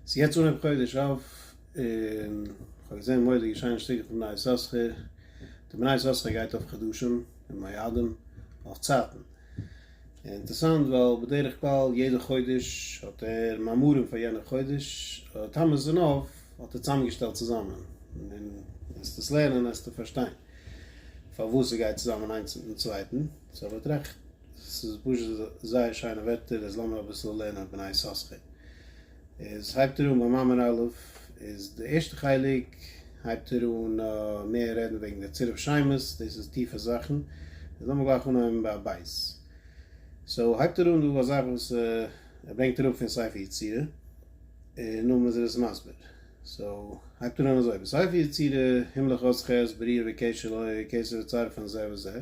ס'איז יעצט אנהויב חודש אב, און כ'האב געזען מודעה געשען נישט לאנג צוריק אויפן בני יששכר, די בני יששכר גייט אויף חידושים און מועדים אויף צייטן, אינטערסאנט ווייל בדרך כלל יעדע חודש האט ער מאמרים פאר יענע חודש, טעמעס און אויף האט ער צוזאמגעשטעלט צוזאמען, און וועסט עס לערנען וועסטו פארשטיין פארוואס ס'גייט צוזאמען איינס מיטן צווייטן, סאו וועט רעכט ס'איז פשוט זייער שיינע ווערטער, איז לאמיר אביסל לערנען בני יששכר. איז הייבט ער אן ביי מאמר א', איז די ערשטע חלק הייבט ער אן מער רעדן וועגן די צירוף שיימות, דאס איז טיפע זאכן, איז לאמיר גלייך אנהויבן ביי ב'. סאו הייבט ער אן דא א זאך וואס ער ברענגט אראפ פון ספר יצירה, און נאכדעם איז ער עס מסביר. סאו הייבט ער אן אזוי, בספר יצירה, הימלך עוז ח', בריאה וקשר לוי, קיסר וצר פון זה וזה.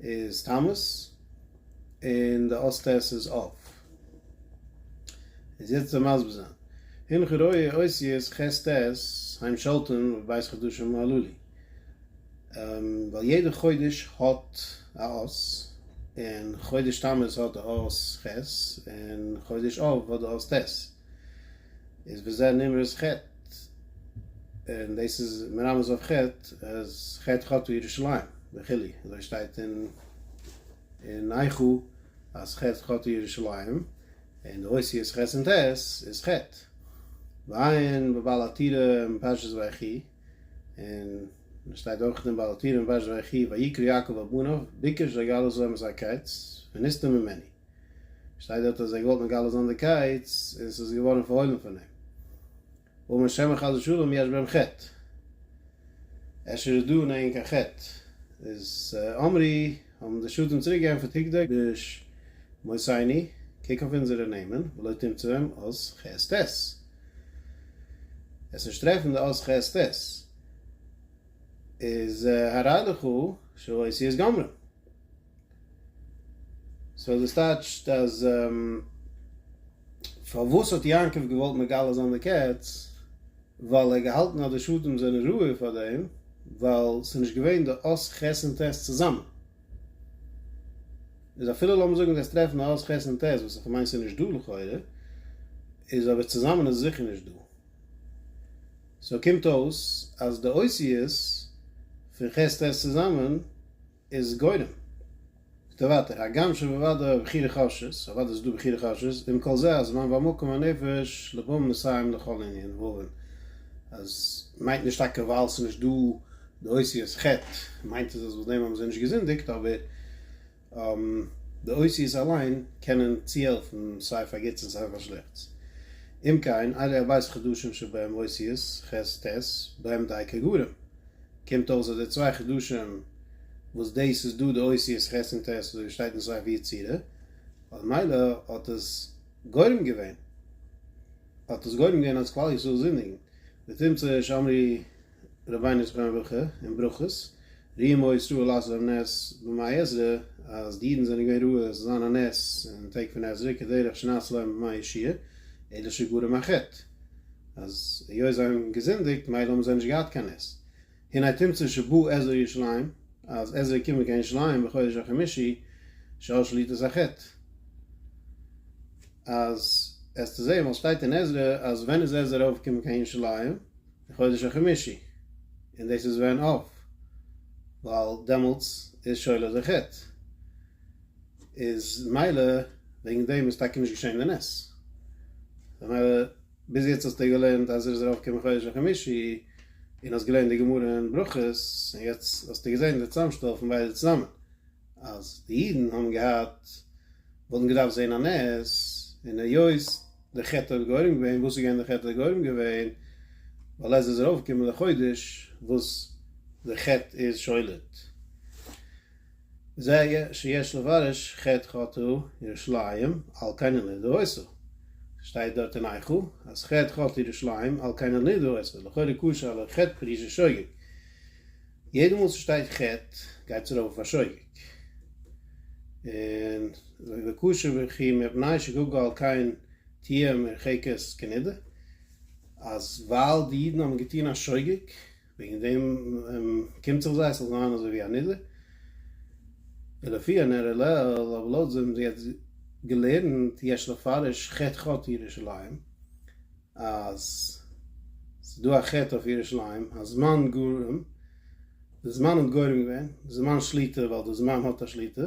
איז תמוז און די אות ט' איז אב. איז יעצט זיי מסביר זיין. הנך רואה אותיות ח' ט' היים שלטון ובית חדשו מלא לי. ווייל יעדע חודש האט א אות, און חודש תמוז האט די אות ח' און חודש אב האט די אות ט'. איז וזה נמרץ ח' און דאס איז מרמז אויף ח' אז ח' חטא ירושלים וכו' אזוי שטייט אין אין איכה אז ח' חטא ירושלים און די אותיות ח' און ט' איז ח' ועיין בבעל התירה אין פרשת ויחי און עס שטייט אויך אין בעל התירה אין פרשת ויחי ויקרא יעקב אל בניו ביקש ויגאל עזרם את הקץ ונסתר ממני שטייט דארט אז ער האט געוואלט מגלה זיין די קייץ און ס'איז געווארן פארהוילן פון אים. ומה שאין כן חס ושלום יש בהם חטא. אפשר איז דא אין ענק א חטא. איז אמרי, האבן די שדים צוריק געענטפערט הגדי ביש מוסייני, קוק אויף אונזערע נעמען, ולא תמצא בהם אות חס ת. עסט נישט טרעפן די אות חס ת. איז הראי לכו שהאותיות גמרן. סאו דאס טייטשט אז פארוואס האט יעקב געוואלט מגלה זיין די קץ? ווייל ער האט געהאלטן אז די שבטים זענען ראוי פאר דעם, ווייל ס'איז נישט געווען די אות ח' און ט' צוזאמען. איז אפילו לאמיר זאגן וועסט טרעפן א אות ח' און ט', וואס איך מיין ס'איז נישט דא לכאורה, איז אבער צוזאמען איז זיכער נישט דא. סאו קומט אויס אז די אותיות פון ח' ט' צוזאמען, איז גורם. זאגט ער ווייטער, הגם שבוודאי בחירה חשש, אוודאי איז דא בחירה חשש, ועם כל זה הזמן והמקום והנפש לבם מסיים לכל ענין ועוון, אז מיינט נישט טאקע ווייל ס'איז נישט דא די אותיות ח' מיינט עס אז וואס דעם האבן זיי נישט געזינדיגט, אבער די אותיות אליין קענען צוהעלפן סיי פאר גוטס און סיי פאר שלעכטס. אם כן, אלה הבית חדשים שבהם אותיות ח' ט', בהם דייקא גורם. קומט אויס אז די צוויי חידושים וואס דאס איז דא די אותיות ח' און ט' אזוי ווי שטייט אין ספר ויצירה, אז מילא האט עס גורם געווען, האט עס גורם געווען אז כלל ישראל זינדיגן, ותמצא שאמרי רבינו זכרונו לברכה אין ברכות, ראה מה ישראל לעשות ביים נס במאי עזרא, אז די אידן זענען געווען רואה עס זאל זיין א נס אין טעג פון עזרא כדרך שנעשה להם במאי ישעי', אלא שגרם א חטא. אז היות זיי האבן געזינדיגט מילא האבן זיי נישט געהאט קיין נס, הנה התמצא שבו עזרא ירושלים אז עזרא איז געקומען קיין ירושלים בחודש החמישי שעל שליטת החטא, אז עסטו זעהן וואס שטייט אין עזרא אז ווען איז עזרא ארויף געקומען קיין ירושלים אין חודש החמישי און דאס איז ווען אויף ווייל דעמאלטס איז שולת החטא. איז מילא וועגן דעם איז טאקע נישט געשען די נס. ממילא ביז יעצט האסטו געלערנט אז ער איז ארויפגעקומען חודש חמישי און האסט געלערנט די גמרא אין ברכות און יעצט האסטו געזען די צוזאמשטעל פון ביידע צוזאמען אז די אידן האבן געהאט וואלטן געדארפט זען א נס און היות די חטא האט גורם געווען, וואס איז געווען די חטא האט גורם געווען? ווייל עזרא איז ארויפגעקומען די חודש וואס די חטא איז שולט. זע י שיש לבריש ח חטא ירושלים על כן אין לידו עושה, שטייט דארט אין איכה אז ח חטא ירושלים על כן אין לידו עושה, לכאורה קשה עליו חטא פרישה שוגג, יעדע מאל ס'שטייט חטא גייט עס ארויף אויף א שוגג, און וקשה וכי מפני שגגה על כן תהיה מרחקת כנידה, אז ווייל די אידן האבן געטון א שוגג, וועגן דעם קומט זיך זיי ס'זאל זיין אזוי ווי א נדר, ולפי הנראה לעיל, אבער לויט ווי מ'האט יעצט געלערנט יש לפרש חטא חטא ירושלים, אז ס'איז דא א חטא אויף ירושלים, הזמן גורם, די זמן האט גורם געווען, די זמן שליטה ווייל די זמן האט א שליטה,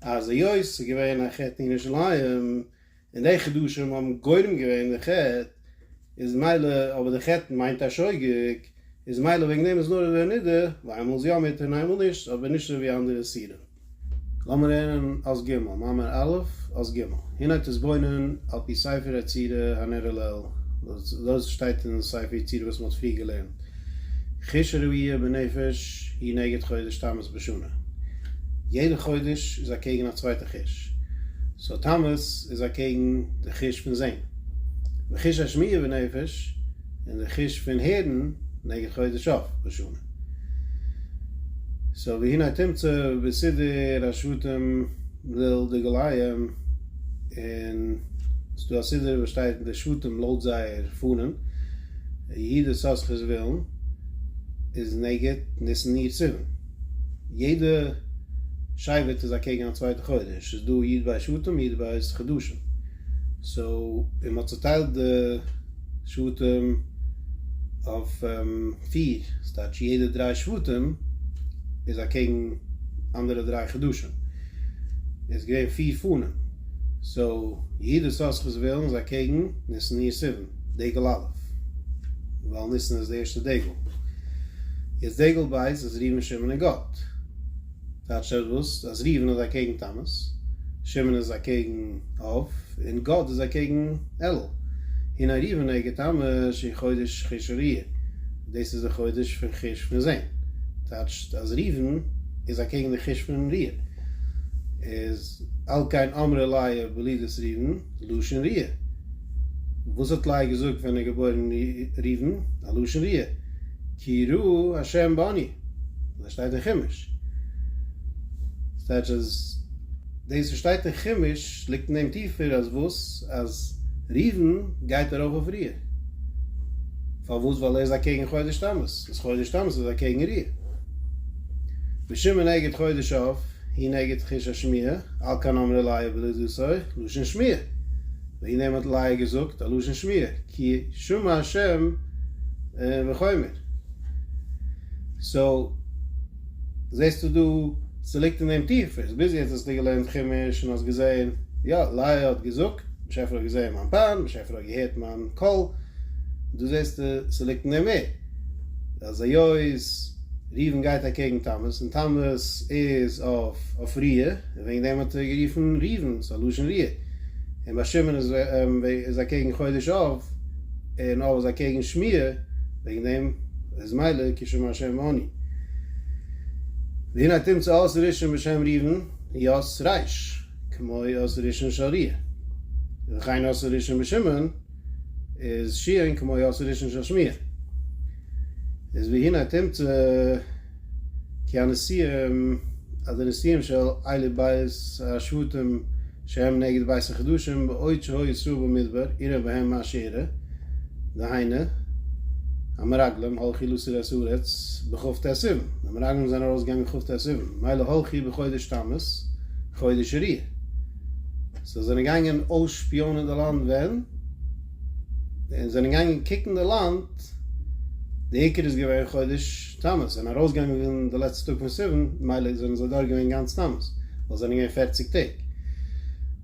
אז היות ס'איז געווען א חטא אין ירושלים, און די חידושים האבן גורם געווען די חטא, איז מילא, אבער די חטא מיינט א שוגג, איז מילא וועגן דעם איז נאר איבער נידה, ווייל איינמאל איז יא מותר און איינמאל נישט, אבער נישט אזוי ווי אנדערע איסורים. לאמיר הערן אות ג', מאמר א', אות ג', הנה תתבונן על פי ספר היצירה הנראה לעיל, וואס דאס שטייט אין ספר יצירה וואס מ'האט פריער געלערנט. חיש ראי' בנפש היא נגד חודש תמוז בשנה, יעדע חודש איז אקעגן א צווייטע חיש, סאו תמוז איז אקעגן די חיש פון זען, וחיש השמיעה בנפש און די חיש פון הערן נגד חודש אב בשנה, סאו והנה תמצא בסידור השבטים וויל די גליים און ס'איז דא א סידור וואס שטייט די שבטים לויט זייער פארנעם, יהודה סאסכער'ס ווילן איז נגד ניסן אייר סיוון, יעדע שבט איז אקעגן א צווייטע חודש, ס'איז דא י' באב שבטים י' באב חדשים. סאו מ'האט צוטיילט די שבטים אויף פיר, ס'טייטש יעדע דריי שבטים איז אקעגן אנדערע דריי חדשים, איז געווען פיר פנים, סאו יהודה ששכר זבולון איז אקעגן ניסן אייר סיוון, דגל א', ווייל ניסן איז די ערשטע דגל, יעצט דגל ב' איז ראובן שמעון און גד. טייטש עטוואס אז ראובן איז אקעגן תמוז, שמעון איז אקעגן אב, און גד איז אקעגן אלול. הנה ראובן עגד תמוז אין חודש חיש אריה, דאס איז די חודש פון חיש פון זען, טייטש אז ראובן איז אקעגן די חיש פון ריה, איז על כן אמרה לאה בלידת ראובן לשון ריה, וואס האט לאה געזאגט ווען איז געבוירן ראובן? א לשון ריה. כי יראה ה' בני, אזוי שטייט אין חומש. וואס טייטש אז דאס וואס שטייט אין חומש ליגט אין דעם טיפער אז וואס אז ראובן גייט ארויף אויף ריע. פארוואס ווייל ער איז אקעגן חודש תמוז, איז חודש תמוז איז אקעגן ריע. ושמעון נגד חודש אב, היא נגד חוש השמיעה, על כן אמר אלי' בלא דסוי, לשון שמיעה. און אים האט לאה געזאגט א לשון שמיעה, כי שמע ה' מחומר. סאו זעסטו דא ס'ליגט אין דעם טיפערס, ביז יעצט האסטו געלערנט חומש און האסט געזען יא לאה האט געזאגט, באשעפער האט געזען מיין פאן, באשעפער האט געהערט מיין קול, דא זעסטו ס'ליגט אין דעם מער. אז היות ראובן גייט אקעגן תמוז און תמוז איז אויף ריע און וועגן דעם האט ער גערופן ראובן ס'איז א לשון ריע און ביי שמעון איז אקעגן חודש אב און אב איז אקעגן שמי' וועגן דעם איז מילא כי שמע ה' ואני והנה תמצא אות ראשון בשם ראובן יוס רייש כמו אות ראשון של ריע וכן אות ראשון בשמעון איז שיען כמו יאסי ראשון של שמיעה איז והנה תמצא כי הנשיאים אז די נשיאים של אלה בית השבטים שהם נגד בית החדשים בעוד שהוי ישראל במדבר אירע בהם מעשירה דהיינו המרגלים הולכי לסו ר ס ארץ בכב ט סיוון די מרגלים זענען ארויס געגאנגען כב ט סיוון מילא הולכי בחודש תמוז חודש ר י. זיי זענען געגאנגען אויסשפיאנען די לאנד ווען? און זענען געגאנגען קוקן די לאנד, די עיקר איז געווען חודש תמוז, זענען ארויסגעגאנגען די לעצטע טאג פון סיוון, מילא זענען זיי דורך געווען גאנץ תמוז, ווייל זענען געווען פֿערציק טעג,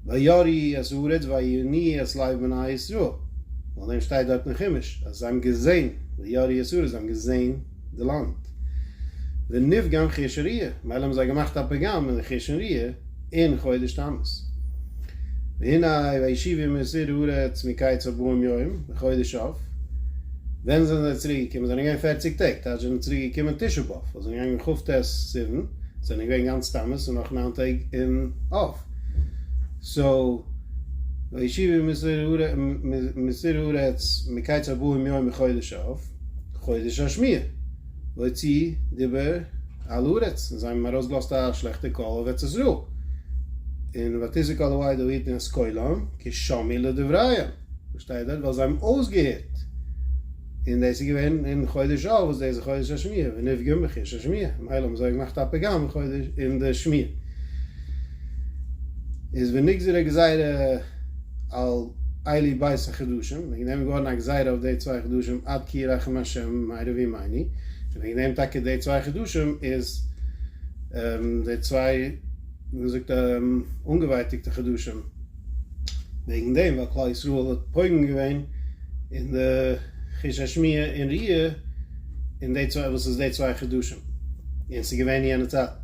וירעו את הארץ ויעניו את לב בני ישראל, וועגן דעם שטייט דארט אין חומש אז זיי האבן געזען, וירעו את הארץ זיי האבן געזען. די לאנד. ונפגם חרשון ריע, מילא האבן זיי געמאכט א פגם אין חרשון ריע אין חודש תמוז. והנה וישיבו מסיר הארץ מקיץ ארבעים יום בחודש אב, ווען זענען זיי צוריק געקומען? זענען געווען פערציג טעג, טייטש זענען צוריק געקומען תשעה באב, וואס זענען געגאנגען כ ט סיוון, זענען געווען גאנץ תמוז און נאך ניין טעג אין אב. סאו וישיבו מסיר הארץ מקיץ ארבעים יום בחודש אב. חודש השמיעה, להוציא דיבה על הארץ, און זיי האבן ארויסגעלאזט א שלעכטע קול אויף ארץ ישראל, און ותזעק אל הוי' דא היתן את קולם כי שמעו לדבריהם, וואס שטייט דארט? ווייל זיי האבן אויסגעהערט, און דאס איז געווען אין חודש אב וואס דאס איז חודש השמיעה, ונפגם בחיש השמיעה, ממילא האבן זיי געמאכט א פגם אין חודש אין די שמיעה, איז ונגזרה גזירה. על אלי בית החדשים, וועגן דעם איז געווארן א גזירה אויף די צוויי חדשים עד כי ירחם השם מהרי וי מייני, און וועגן דעם טאקע די צוויי חדשים איז די צוויי ווי מען זאגט אנגעווייטיגטע חדשים, וועגן דעם ווייל כלל ישראל האט פוגם געווען אין די חוש השמיעה און ראי' אין די צוויי וואס איז די צוויי חדשים, און ס'איז געווען אין יענע צייטן.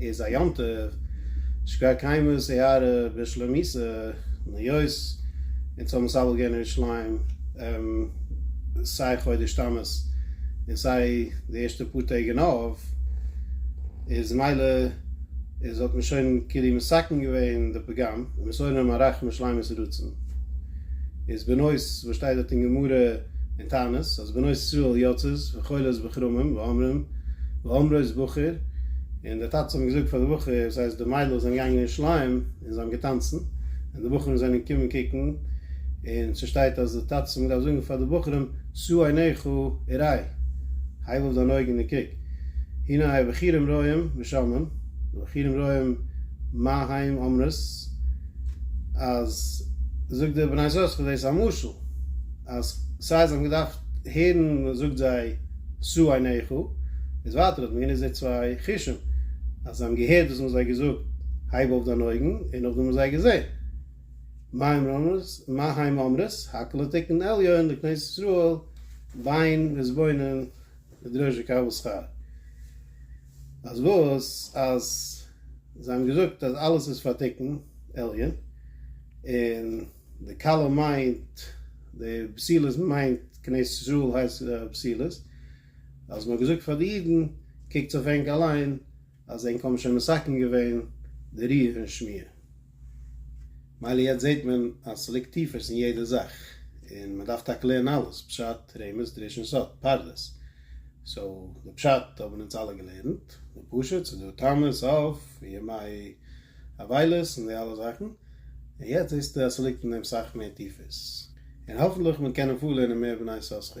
איז א יום טוב שכבר קיימא סערה בשלומיסא היות אונז האבן סבל געווען אין ירושלים סיי חודש תמוז און סיי די ערשטע פאר טעג אין אב איז מילא איז האט מען שוין כאילו מסכם געווען די פגם ומסורנו מעריך משלימות רצון איז בנות וואס שטייט דארט אין גמרא אין תענית אז בנות ישראל יוצאות וחולות בכרמים ואומרים ואמרו איז בחור, און די טאטעס האבן געזאגט פאר די בחור, ס'הייסט די מיידלעך זענען געגאנגען אין שליים און זיי האבן געטאנצן, און די בחורים זענען געקומען קוקן, און ס'שטייט אז די טאטעס האבן געדארפט זאגן פאר די בחורים, שאו עיניך וראי, הייב אויף דיין אויגן און קוק, הנה היה בחורים רואים ושמעון, די בחורים רואים מה היים אומרות, אז זאג די בני ישראל ס'איז דאס א משל, אז סיי זיי האבן געדארפט הערן מ'זאגט זיי, שאו עיניך, איז ווייטער האט מען גענוצט די צוויי חושים, אז זיי האבן געהערט וואס מ'האט זיי געזאגט, הייב אויף דיין אויגן, און נאכדעם האבן זיי געזען, מה המה אמרת, הק' לתקן עליון לכנסת ישראל בין וזבולון לדרוש וקבל שכר, אז וואס, אז זיי האבן געזאגט אז אלעס איז פאר תיקון עליון, און. די כלה מיינט די בסילות מיינט כנסת ישראל הייסט בסילות אז מען האט געזאגט פאר די אידן קוקטס אויף ענק אליין אז ענק האבן שוין מסכם געווען די ריח און שמיעה מילא יעצט זעהט מען אז ס'ליגט טיפערס אין יעדע זאך און מען דארף טאקע לערנען אלעס פשט רמז דרש און סוד פרדס סאו די פשט האבן אונז אלע געלערנט די פשט ס'דא טעמות אויף ימי אבילות און די אלע זאכן, און יעצט זעסטו אז ס'ליגט אין דעם סאך מער טיפערס, און האפנטליך מען קען אפאר לערנען מער בני יששכר.